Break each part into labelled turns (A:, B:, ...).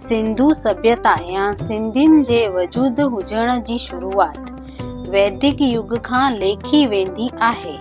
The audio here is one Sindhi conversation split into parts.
A: سنڌو سڀيتا يا سنڌين جي وجود هجڻ جي شروعات ويدڪ يگ کان ليکي ويندي آهي.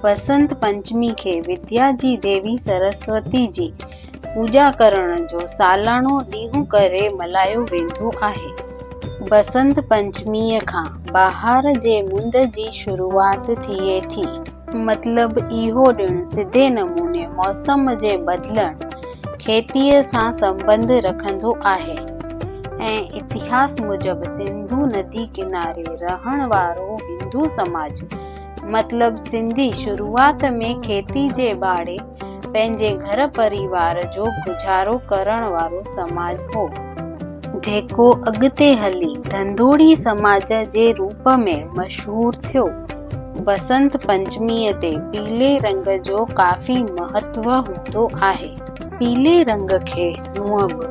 A: بسنت پنچمي کي وديا جي ديوي سرسوتي جي پوڄا ڪرڻ جو سالاڻو ڏينهن ڪري ملهايو ويندو آهي. بسنت پنچميء کان بهار جي مند جي شروعات ٿئي ٿي. مطلب اهو ڏڻ سڌي نموني موسم جي بدلڻ کيتيء سان سنٻنڌ رکندو آهي ۽ اتهاس موجب سنڌو ندي ڪناري رهڻ وارو هندو سماج مطلب سنڌي شروعات ۾ کيتي جي ٻاڙي پنهنجي گهر پريوار جو گذارو ڪرڻ وارو سماج هو، جيڪو اڳتي هلي ڌنڌوڙي سماج جي روپ ۾ مشهور ٿيو. بسنت پنچميء تي پيلي رنگ جو ڪافي مهتو هوندو آهي. پيلي رنگ کي هونء به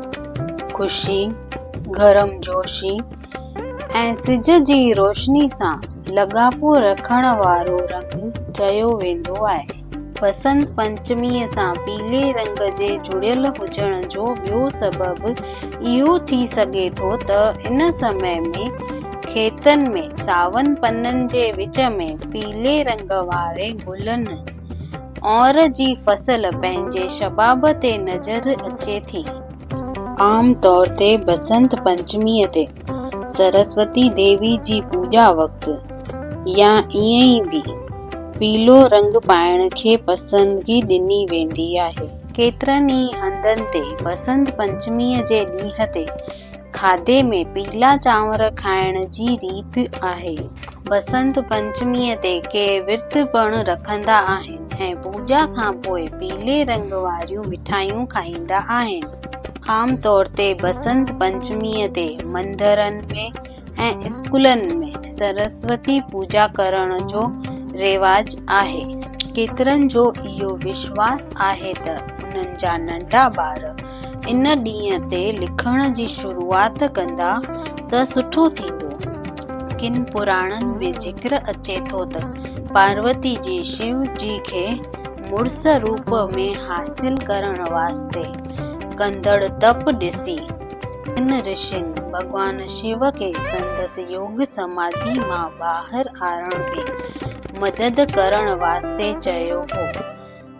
A: خوشي، گرمجوشي ۽ سج جي روشني سان لاڳاپو رکڻ وارو رنگ چيو ويندو آهي. بسنت پنچميء سان پيلي رنگ جي جڙيل هجڻ جو ٻيو سبب اهو ٿي سگهي ٿو ته ان سمي ۾ کيتن ۾ ساون پنن جي وچ ۾ پيلي رنگ واري گلن اور جي فصل پنهنجي شباب تي نظر اچي ٿي. عام طور تي بسنت پنچميء تي سرسوتي ديوي جي پوڄا وقت يا ائين ئي به پيلو رنگ پائڻ کي پسندگي ڏني ويندي آهي. ڪيترن ئي هنڌن تي بسنت پنچميء جي ڏينهن تي کاڌي ۾ پيلا چانور کائڻ جي ريت آهي. بسنت پنچميء تي ڪي ورت پڻ رکندا آهن ۽ پوڄا کان پوء پيلي رنگ واريون مٺايون کائيندا آهن. عام طور تي بسنت پنچميء تي مندرن ۾ ۽ اسڪولن ۾ سرسوتي پوڄا ڪرڻ جو رواج آهي. ڪيترن جو اهو وشواس آهي ته انهن جا ننڍا ٻار ان ڏينهن تي لکڻ جي شروعات ڪندا ته سٺو ٿيندو. ڪن پراڻن ۾ ذڪر اچي ٿو ته پاروتي جي شيو جي کي مڙس روپ ۾ حاصل ڪرڻ واسطي ڪندڙ تپ ڏسي، تن رشين ڀڳوان شو کي سندس يوگ سماڌي مان ٻاهر آڻڻ ۾ مدد ڪرڻ واسطي چيو هو.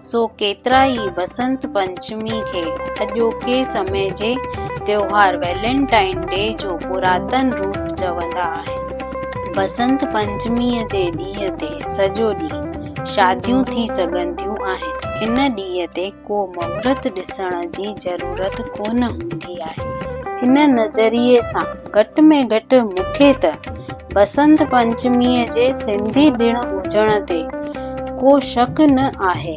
A: سو ڪيترائي بسنت پنچمي کي اڄوڪي سمي جي تيوهار ويلنٽائن ڊي جو پراتن روپ چوندا آهن. بسنت پنچميء جي ڏينهن تي سڄو ڏينهن شاديون ٿي سگهنديون آهن. هن ڏينهن تي ڪو مهورت ڏسڻ جي ضرورت ڪونه هوندي آهي. ان نظريي سان گهٽ ۾ گهٽ مون کي ته بسنت پنچميء جي سنڌي ڏڻ هجڻ تي ڪو شڪ نه آهي.